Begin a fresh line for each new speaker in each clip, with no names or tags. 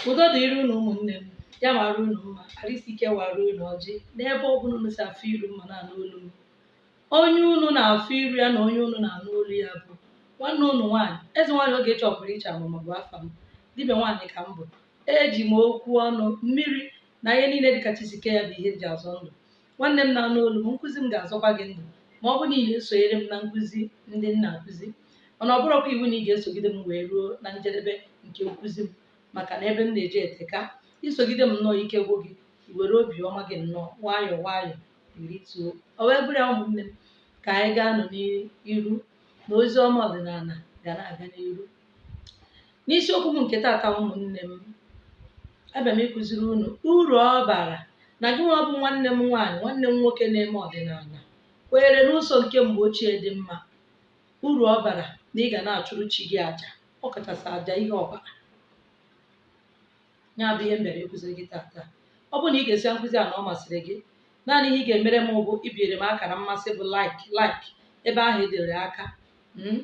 udo dịrị unu ụmụnne m ya mara unu mma arụ isi ike wara unu ọjị n'ebe ọ bụla unu si afụ iru m ma na-anụ olu m onye unu na-afụ iru ya na onye unu na-anụ olu ya bụ nwanne unu nwaanyị eze nwaanyị Ogechi ọpụrụ iche amụma bụ afa m dibịa nwaanyị ka m bụ eji m okwu ọnụ mmiri na ihe niile dịka chi si kee ya bụ ihe m ji azọ ndụ nwanne m na-anụ olu m nkụzi m ga-azọkwa gị ndụ ma ọ bụ na ị na-esonyere m na nkụzi ndị m na-akụzi mana ọ bụrọkwa iwu na ị ga-esogide m wee ruo na njedebe nke nkụzi m maka na ebe m na-eje eteka i sogide m nnọọ ike gwụ gị i were obi ọma gị nnọọ nwayọọ nwayọọ i rituo o wee bụrụ ya ụmụnne m ka anyị gaa nụ n'iru na ozi ọma ọdịnala ga na-aga n'iru n'isiokwu m nke taata ụmụnne m abịa m ịkụziri unu uru ọ bara na gị nwa bụ nwanne m nwaanyị nwanne m nwoke na-eme ọdịnala kwenyere n'ụzọ nke mgbe ochie dị mma uru ọ bara na ị ga na-achụrụ chi gị aja ọ kachasị aja ihe ọbara ya bụ ihe m bịara ịkụziri gị taata ọ bụrụ na ị gesịa nkụzi a na ọ masịrị gị naanị ihe ị ga-emere m bụ ibiere m akara mmasị bụ like like ebe ahụ e dere aka mm,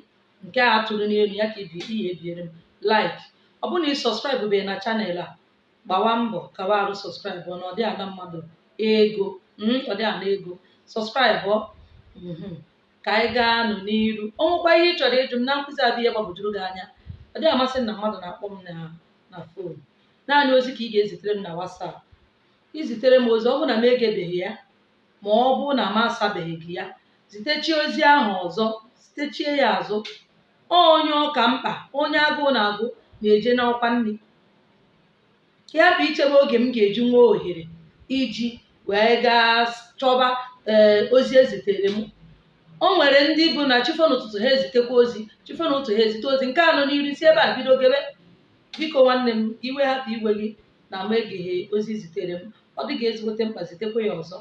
nke a tụrụ n'elu ya ka ị ga-ebiere m like ọ bụrụ na ị subscribe beghị na channel a gbawa mbọ kawa arụ subscribe ọ na ọ dịghị ana mmadụ ego mhm, ọ dịghị ana ego subscribe ọ, mhm. ka anyị gaa nụ n'iru o nwekwa ihe ị chọrọ ịjụ m na nkụzi a bụ ihe gbagwojuru gị anya ọ dịghị amasị m na mmadụ na-akpọ m na na phone naanị ozi ka ị ga-ezitere m na WhatsApp i zitere m ozi ọ bụrụ na m egebeghị ya ma ọ bụ na m asabeghị gị ya zitechie ozi ahụ ọzọ zitechie ya azụ ọ onye ọ ka mkpa onye agụụ na-agụ na-eje n'ọkwa nri ka ị hapụ ichebe oge m ga-eji nwee ohere iji wee gaa chọba ee ozi ezitere m o nwere ndị bụ na chi fo n'ụtụtụ ha ezitekwa ozi chi fo n'ụtụtụ ha ezite ozi nke anọ n'iru si ebe a bido gebe biko nwanne m iwe hapụ iwe gị na m egeghị ozi i zitere m ọ dị gị ezigbote mkpa zitekwa ya ọzọ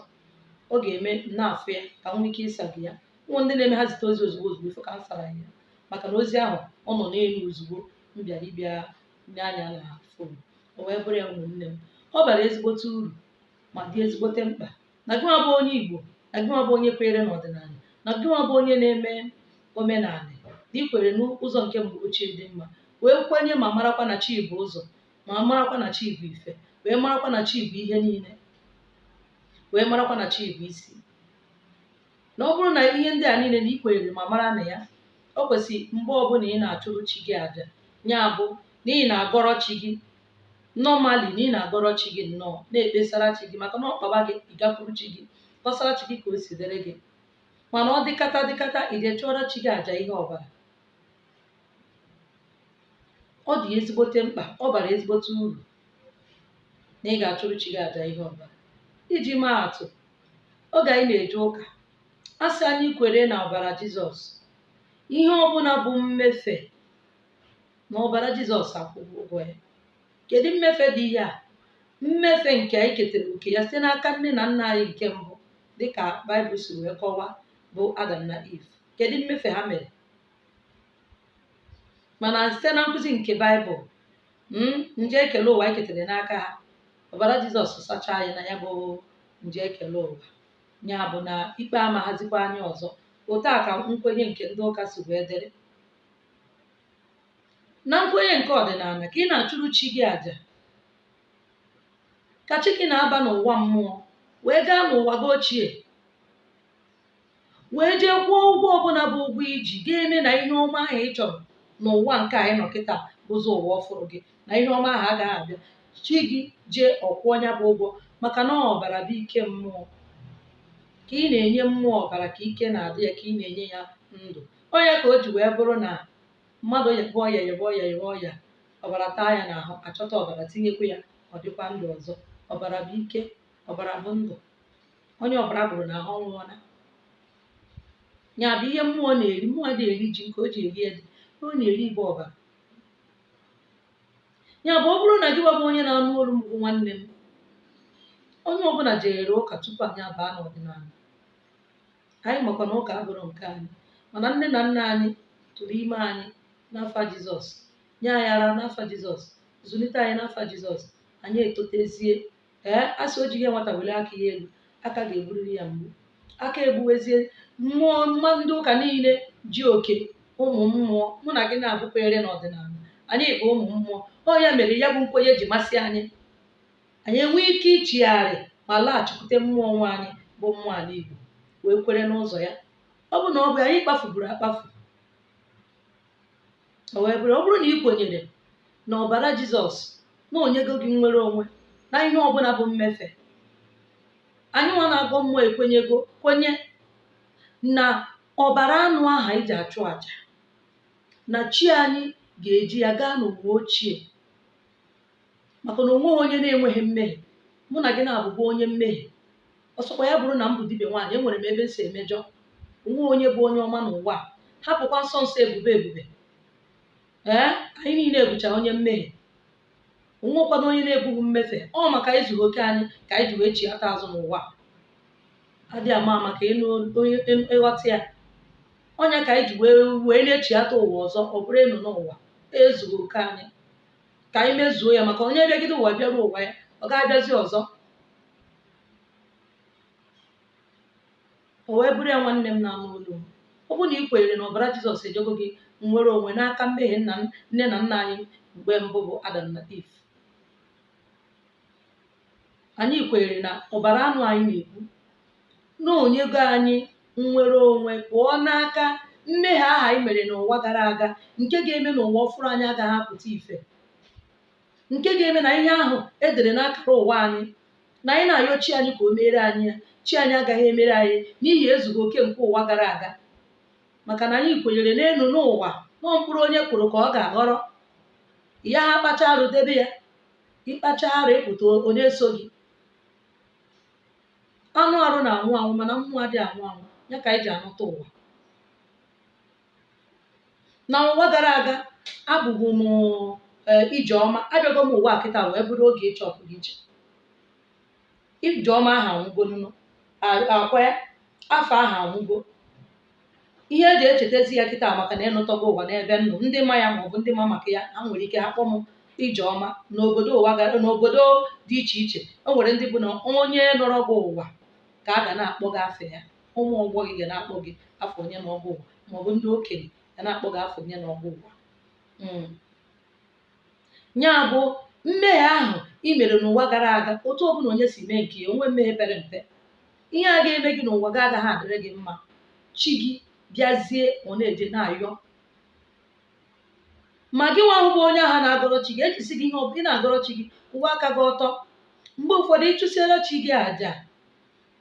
ọ ga-eme m na-afụ ya ka m nwee ike ịsa gị ya ụmụ ndị na-eme ha zite ozi ozugbo ozugbo ị fụ ka m sara ya maka na ozi ahụ ọ nọ n'elu ozugbo m bịara ịbịa nee anya na phone o wee bụrụ ya ụmụnne m ọ bara ezigbote uru ma dị ezigbote mkpa na gị nwa bụ onye Igbo na gị nwa bụ onye kwenyere n'ọdịnala na gị nwa bụ onye na-eme omenala na i kwere n'ụzọ nke mgbe ochie dị mma wee kwenye ma marakwa na chi bụ ụzọ ma marakwa na chi bụ ife wee marakwa na chi bụ ihe niile wee marakwa na chi bụ isi na ọ bụrụ na ihe ndị a niile na ị kwenyere ma mara na ya o kwesịrị mgbe ọbụla ị na-achụrụ chi gị aja ya bụ na ị na-agọrọ chi gị normally na ị na-agọrọ chi gị nnọọ na-ekpesara chi gị maka na ọ kpaba gị ị gakwuru chi gị kọsara chi gị ka o si dịrị gị mana ọ dịkata dịkata i jee chụọrọ chi gị aja ihe ọbara ọ dị ezigbote mkpa ọ bara ezigbote uru na ị ga-achụrụ chi gị aja ihe ọbara iji maa atụ oge anyị na-eje ụka a sị anyị kwere na ọbara jizọs ihe ọbụla bụ mmefe na ọbara jizọs akwụghị ụgwọ ya kedu mmefe dị ihe a mmefe nke anyị ketara oke ya site n'aka nne na nna anyị nke mbụ dịka baịbụl si wee kọwaa bụ adam na iv kedu mmefe ha mere mana site na nkụzi nke baịbụl mm, njọ ekele ụwa eketere n'aka ha ọbara jizọs sachaa anyị na ya bụ njọ ekele ụwa ya bụ na ikpe amaghazikwa anyị ọzọ otu a ka nkwenye nke ndị ụka si wee dịrị na nkwenye nke ọdịnala ka ị na-achụrụ chi gị àjà ka chi gị na-aba n'ụwa mmụọ wee gaa n'ụwa gị ochie wee jee kwụọ ụgwọ ọbụla bụ ụgwọ i ji ga-eme na ihe ọma ahụ ị chọrọ n'ụwa nke anyị nọ kịta bụzi ụwa ọfụrụ gị na ihe ọma ahụ agaghị abịa chi gị jee ọ kwụọ ya bụ ụgwọ maka na ọbara bụ ike mmụọ ka ị na-enye mmụọ ọbara ka ike na-adị ya ka ị na-enye ya ndụ ọ ya ka o ji wee bụrụ na mmadụ yebe ọya yebe ọya yebe ọya ọbara taa ya n'ahụ achọta ọbara tinyekwa ya ọ dịkwa ndụ ọzọ ọbara bụ ike ọbara bụ ndụ onye ọbara gwụrụ n'ahụ ọ nwụọla ya bụ ihe mmụọ na-eri mmụọ adị eri ji nke o ji eri ede ihe ọ na-eri bụ ọbara ya bụ ọ bụrụ na gị nwa bụ onye na-anụ olu m bụ nwanne m onye ọbụla jere ụka tupu anyị abaa n'ọdịnala anyị makwa na ụka abụrọ nke anyị mana nne na nna anyị tụrụ ime anyị n'afa jizọs nye anyị ara n'afa jizọs zụlite anyị n'afa jizọs anyị etotezie ee asị o ji ihe nwata welie aka ya elu aka ga-egburiri ya mgbu aka egbuwezie mmụọ mma ndị ụka niile ji oke ụmụ mmụọ mụ na gị na-abụkwere n'ọdịnala anyị bụ ụmụ mmụọ ọ ya mere ya bụ nkwenye ji masị anyị anyị enwee ike ichigharị ma laghachikwute mmụọ nwe anyị bụ mmụọ ala Igbo wee kwere n'ụzọ ya ọ bụ na ọ bụ anyị kpafuburu akpafu o wee bụrụ ọ bụrụ na ị kwenyere na ọbara jizọs na o nyego gị nnwere onwe na ihe ọbụla bụ mmefe anyị nwa na-agọ mmụọ ekwenyego kwenye na ọbara anụ ahụ i ji achụ aja na chi anyị ga-eji ya gaa n'ụwa ochie maka na onweghị onye na-enweghị mmehie mụ na gị naabọ bụ onye mmehie ọ sọkwa ya bụrụ na m bụ dibịa nwaanyị enwere m ebe m si emejọ onweghị onye bụ onye ọma n'ụwa a hapụkwa nsọ nsọ ebube ebube ee anyị niile abụcha onye mmehie onwekwanụ onye na-ebughị mmefe ọ maka ezughị oke anyị ka anyị ji wee chiata azụ n'ụwa adị ama maka ịghọta ya ọ nya ka anyị ji wee wee na-echiata ụwa ọzọ ọ bụrụ ịnọ n'ụwa ezughị oke anyị ka anyị mezuo ya maka onye bịagide ụwa bịaru ụwa ya ọ ga-abịazi ọzọ o wee bụrụ ya nwanne m na-anụ olu m. ọ bụ na ị kwenyere na ọbara jizọs enyego gị nnwere onwe n'aka mmehie nne na nna anyị mgbe mbụ bụ adam na eve anyị kwenyere na ọbara anụ anyị na-egbu na o nyego anyị nnwere onwe pụọ n'aka mmehie ahụ anyị mere n'ụwa gara aga nke ga-eme na ụwa ọfụrụ anyị agaghị apụta ife nke ga-eme na ihe ahụ edere n'akara ụwa anyị na anyị na-ayọ chi anyị ka o meere anyị ya chi anyị agaghị emere anyị n'ihi ezughị oke nke ụwa gara aga maka na anyị kwenyere n'elu n'ụwa na ọ mkpụrụ onye kụrụ ka ọ ga-aghọrọ ya ha kpacha arụ debe ya ịkpacha arụ ịpụta ọ na-eso gị anụ arụ na-anwụ anwụ mana mmụọ adịghị anwụ anwụ ya ka anyị ji anọta ụwa na ụwa gara aga abụbu m ee, ijeọma abịago m ụwa kịta wee bụrụ ogechi ọpụrụ iche ijeọma ahụ anwụgo nụnụ a- akwa ya afa ahụ anwụgo ihe eji echetazi ya kịta maka na ọ nọtago ụwa n'ebe m nọ ndị ma ya maọbụ ndị ma maka ya ha nwere ike ha kpọ m ijeọma n'obodo ụwa ga- n'obodo dị iche iche o nwere ndị bụ na onye nọrọ gị ụwa ka a ga na-akpọ gị afa ya ụmụ ọgbọ gị ga na-akpọ gị afa onye nọ gị ụwa maọbụ ndị okenye ga na-akpọ gị afa onye nọ gị ụwa Mm. ya bụ mmehie ahụ i mere n'ụwa gara aga otu ọbụla onye si mee nke ya onwe mmehie pere mpe ihe a ga-eme gị n'ụwa gị agaghị adịrị gị mma chi gị bịazie ọ na-eje na-ayọ ma gị nwa ahụ bụ onye ahụ na-agọrọ chi gị ejisighị ihe ọ bụla ị na-agọrọ chi gị kwụwa aka gị ọtọ mgbe ụfọdụ ịchụsiere chi gị àjà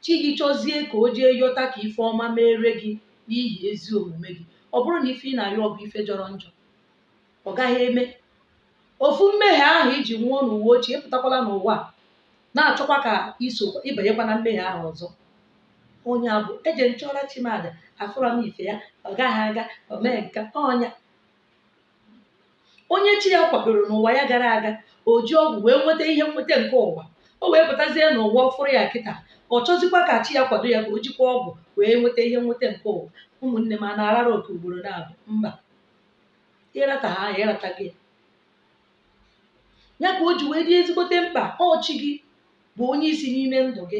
chi gị chọzie ka o jee yọta ka ife ọma meere gị n'ihi ezi omume gị ọ bụrụ na ife ị na-ayọ bụ ife jọrọ njọ ọ gaghị eme ofu mmehie ahụ iji nwụọ n'ụwa ochie pụtakwala n'ụwa na-achọkwa ka iso ịbanyekwa na mmehie ahụ ọzọ ọ nya bụ eje m chụọra chi m àjà afụrọ m ife ya ọ gaghị aga omee nka ọ nya onye chi ya kwadoro n'ụwa ya gara aga o ji ọgwụ wee nweta ihe nweta nke ụwa o wee pụtazie n'ụwa ọfụrụ ya kịta ọ chọzikwa ka chi ya kwado ya ka o jikwa ọgwụ wee nweta ihe nweta nke ụwa ụmụnne m a na-arara oke ugboro naabọ mba ịrata ha ya ịrata gị ya ka o ji wee dị ezigbote mkpa ọ chi gị bụ onye isi n'ime ndụ gị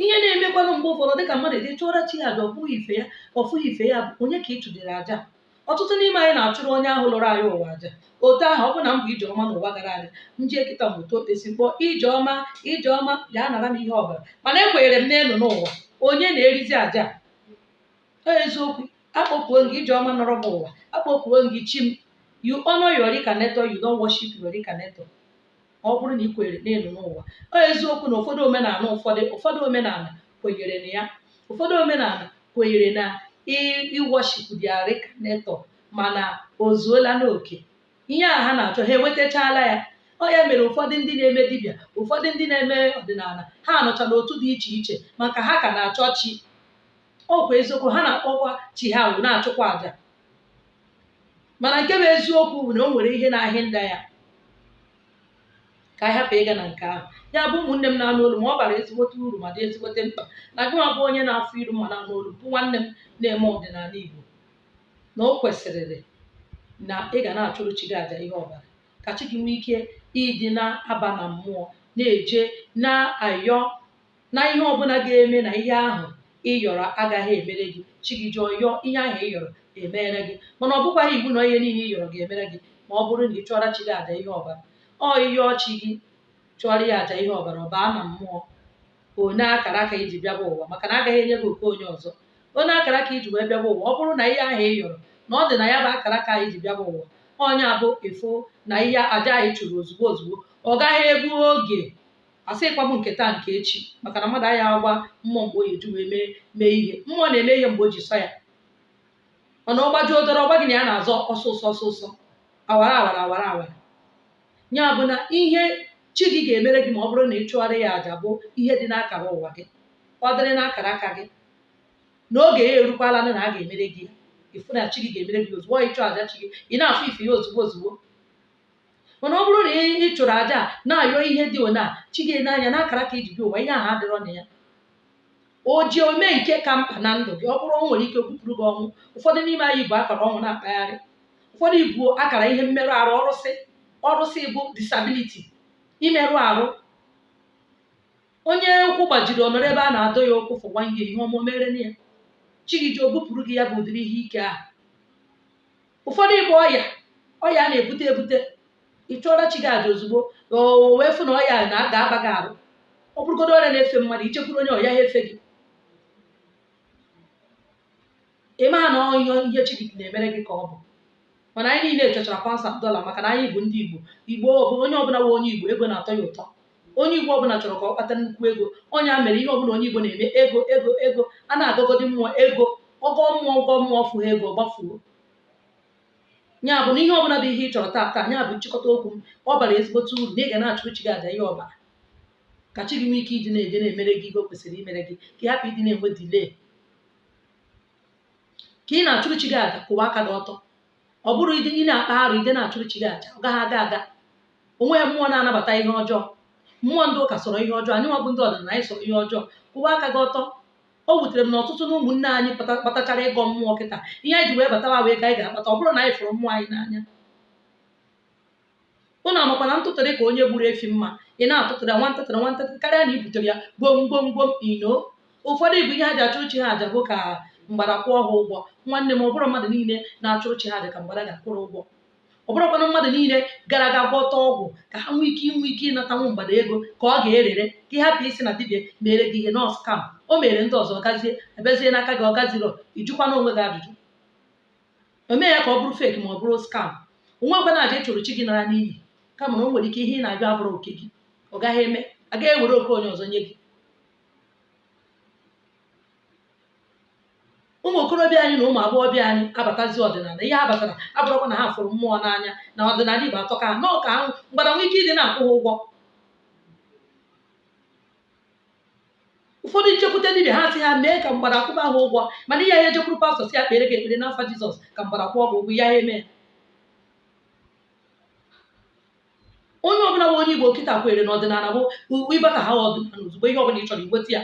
ihe na-emekwanụ mgbe ụfọdụ dịka mmadụ eje chụọra chi ya aja ọ fụghị ife ya ọ fụghị ife ya bụ onye ka ị chụdere aja ọtụtụ n'ime anyị na-achụrụ onye ahụ lọrọ anyị ụwa aja otu ahụ ọ bụ na m bụ ijeọma n'ụwa gara aga m jee kịta m wetuo okpesi kpọọ ijeọma ijeọma bịa nara m ihe ọbara mana ekwenyere m n'ịnọ ụwa onye na-erizi aja Ọ eziokwu akpọkuo m gị ijeọma nọrọ m ụwa akpọkuo m gị chi m you honor your reincarnator you don't worship your reincarnator ọ bụrụ na ị kwenyere n'ịnọ ụwa ọ eziokwu na ụfọdụ omenala ụfọdụ ụfọdụ omenala kwenyere na ya ụfọdụ omenala kwenyere na iworship their reincarnator mana o zuola n'oke ihe a ha na-achọ ha enwetachala ya ọ ya mere ụfọdụ ndị na-eme dibịa ụfọdụ ndị na-eme ọdịnala ha nọcha n'otu dị iche iche maka ha ka na-achọ chi ọ bụ eziokwu ha na-akpọkwa chi ha ahụ na-achụkwa aja mana nke bụ eziokwu bụ na o nwere ihe na-ahị nda ya ka anyị hapụ ịga na nke ahụ ya bụ ụmụnne m na-anụ olu m ọ bara ezigbote uru ma dị ezigbote mkpa na gị nwa bụ onye na-afụ iru m ma na-anụ olu bụ nwanne m na-eme ọdịnala Igbo na o kwesịrịrị na ị ga na-achụrụ chi gị aja ihe ọbara ka chi gị nwee ike ịdị na-aba na mmụọ na-eje na-ayọ na ihe ọbụla ga-eme na ihe ahụ ị yọrọ agaghị emere gị chi gị jee yọọ ihe ahụ ị yọrọ emere gị mana ọ bụkwaghị iwu na ihe niile ị yọrọ ga-emere gị ma ọ bụrụ na ị chụọra chi gị aja ihe ọbara ọ ịyọọ chi gị chụọrọ ya aja ihe ọbara ọ baa na mmụọ o nee akara aka i ji bịaba ụwa maka na agaghị enye gị oke onye ọzọ o nee akara aka i ji wee bịaba ụwa ọ bụrụ na ihe ahụ ị yọrọ na ọ dị na ya bụ akara aka i ji bịaba ụwa ọ ya bụ ịfụ na ihe aja anyị chụrụ ozugbo ozugbo ọ gaghị egbu oge asịghịkwa m nke taa nke echi maka na mmadụ anaghị agwa mmụọ mgbe ọ ya-eji wee mee ihe mmụọ na-eme ihe mgbe o ji sọ ya mana ọ gbajuo dọrọ ọgba gị na ya na-azọ ọsịịsọ ọsịịsọ awara awara awara awara ya bụ na ihe chi gị ga-emere gị ma ọ bụrụ na ị chụgharị ya aja bụ ihe dị n'akara ụwa gị ọ dịrị n'akara aka gị na oge ya erukwala na a ga-emere gị ya ịfụ na chi gị ga-emere gị ozugbo ọ ịchụ aja chi gị ị na-afụ ife ya ozugbo ozugbo mana ọ bụrụ na ị ị chụrụ aja na-ayọ ihe dị ona chi gị nee anya n'akara aka i ji bịa ụwa ihe ahụ adịrọ na ya o ji wee mee nke ka mkpa na ndụ gị ọ bụrụ o nwere ike o bupụrụ gị ọnwụ ụfọdụ n'ime anyị bu akara ọnwụ na-akpagharị ụfọdụ i bu akara ihe mmerụ arụ ọrụsị ọrụsị bụ disability imerụ arụ onye ụkwụ gbajiri ọ nọrọ ebe a na-adọ ya ụkwụ for one year ihe ọma o mere na ya chi gị ji wee bupụrụ gị ya bụ ụdịrị ihe ike ahụ ụfọdụ ịgba ọya ọya a na-ebute ebute ị chụọra chi gị aja ozugbo ka o wee fụ na ọya na a ga-aba gị arụ ọ bụrụgodo ọrịa na-efe mmadụ i jekwuru onye ọ yaha efe gị ị maha na ọ ihe ihe chi gị na-emere gị ka ọ bụ mana anyị niile chọchara pounds and dọla maka na anyị bụ ndị igbo igbo onye ọbụla wụ onye igbo ego na-atọ ya ụtọ onye igbo ọbụla chọrọ ka ọ kpata nnukwu ego onye a mere ihe ọbụla onye igbo na-eme ego ego ego a na-agọgọdị mmụọ ego ọgọ mmụọ ọgọ mmụọ fụha ego gbafuo ya bụ na ihe ọbụla bụ ihe ị chọrọ taa taa ya bụ nchịkọta okwu m ọ bara ezigbote uru na ị ga na-achụrụ chi gị aja ihe ọbara ka chi gị nwee ike ịdị na-eje na-emere gị ihe o kwesịrị imere gị ka ị hapụ ịdị na-enwe delay ka ị na-achụrụ chi gị aja kwụwa aka gị ọtọ ọ bụrụ ị na-akpa arụ ịdị na-achụrụ chi gị aja ọ gaghị aga aga o nweghị mmụọ na-anabata ihe ọjọọ mmụọ ndị ụka sọrọ ihe ọjọọ anyị nwa bụ ndị ọdịnala anyị sọrọ ihe ọjọọ kwụwa aka gị ọtọ o wutere m na ọtụtụ na ụmụnne anyị bata- batachara ịgọ mmụọ kịta ihe anyị ji wee batawa wụ ego anyị ga-akpata ọ bụrọ na anyị fụrụ mmụọ anyị n'anya ụnụ makwa na ntụtụrụ ka onye gburu efi mma ị na-atụtụrụ ya nwa ntụtụrụ nwa ntụtụrụ karịa na i butere ya gwom gwom gwom ino ụfọdụ bụ ihe ha ji achụrụ chi ha aja bụ ka mgbada kwụọ ha ụgwọ nwanne m ọ bụrụ mmadụ niile na-achụrụ chi ha aja ka mgbada ga-akwụrụ ụgwọ ọ bụrụkwanụ mmadụ niile gara aga gwọta ọgwụ ka ha nwee ike inwe ike ịnatanwu mgbada ego ka ọ ga-erere ka ị hapụ ịsị na dibịa mere gị ihe na ọ scam o mere ndị ọzọ ọ gazie a bịazie n'aka gị ọ gaziro ị jụkwana onwe gị ajụjụ o mee ya ka ọ bụrụ fake ma ọ bụrụ scam o nwerọkwanụ aja ị chụrụ chi gị nara n'iyi kama na o nwere ike ihe ị na-ayọ abụrọ oke gị ọ gaghị eme agaghị ewere oke onye ọzọ nye gị ụmụ okorobịa anyị na ụmụ agbọghọbịa anyị abatazi ọdịnala ihe ha batara abụrọkwa na ha fụrụ mmụọ n'anya na ọdịnala igbo atọka ha na ọ ka ahụ mgbada nwee ike ịdị na-akwụ ha ụgwọ ụfọdụ na-ejekwute dibịa ha sị ha mee ka mgbada kwụba ha ụgwọ mana ị yaha ejekwuru pastọ sị ya kpere gị ekpere n'afa jizọs ka mgbada kwụọ gị ụgwọ ọ yaha eme onye ọbụla bụ onye igbo kịta kwere na ọdịnala bụ u- ị bataha ọdịnala ozugbo ihe ọbụla ị chọrọ i nweta ya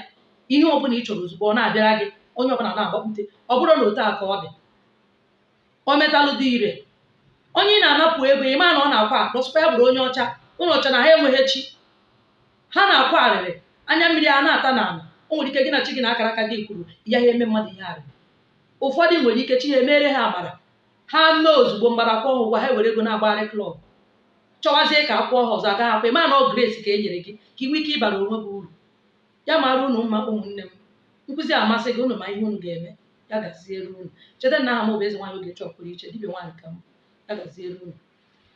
ihe ọbụla ị chọrọ ozugbo ọ na-abịara gị onye ọbụla na-agbakwute ọ bụrụ na otu a ka ọ dị o metalụ dị ire onye ị na-anapụ ego ị ma na ọ na-akwa akwa ọ sịkwa ya bụrụ onye ọcha unu chee na ha enweghị chi ha na-akwa arịrị anya mmiri a na-ata n'ala o nwere ike gị na chi gị na akara aka gị kwuru ị yaha eme mmadụ ihe arịrị ụfọdụ nwere ike chi ha emere ha amara ha mee ozugbo mgbada kwụọ ha ụgwọ ha were ego na-agbagharị klọb chọwazie ka a kwụọ ha ọzọ a gaghị akwụ ị ma na ọ grace ka e nyere gị ka ị nwee ike ịbara onwe gị uru ya mara unu mma ụmụnne m nkụzi a masị gị unu ma ihe unu ga-eme ya gaziere unu cheta na aha m bụ eze nwaanyị ogechi ọpụrụiche dibịa nwaanyị ka m ya gaziere unu